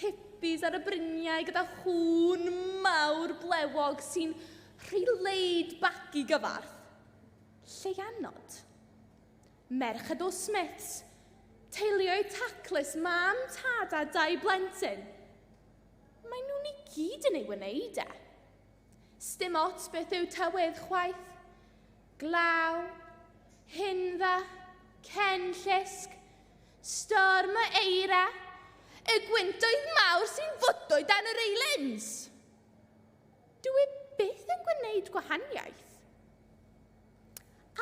hippies ar y bryniau gyda chŵn mawr blewog sy'n rhy laid back i gyfarth. Lleianod. Merched o Smiths, teuluoedd taclus, mam, tad a dau blentyn. Mae nhw'n i gyd yn ei wneud e. Stim ots beth yw tywydd chwaith. Glaw, hindda, cen llusg, Storm o eira, y gwyntoedd mawr sy'n fodo dan yr eilens. Dw i byth yn gwneud gwahaniaeth.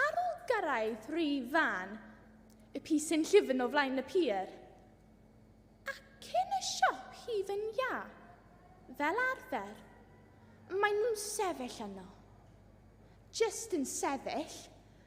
Ar ôl gyrraedd rhy fan, y pys yn llyfn o flaen y pier, ac yn y siop hyd yn ia, fel arfer, maen nhw'n sefyll yno. Just yn sefyll,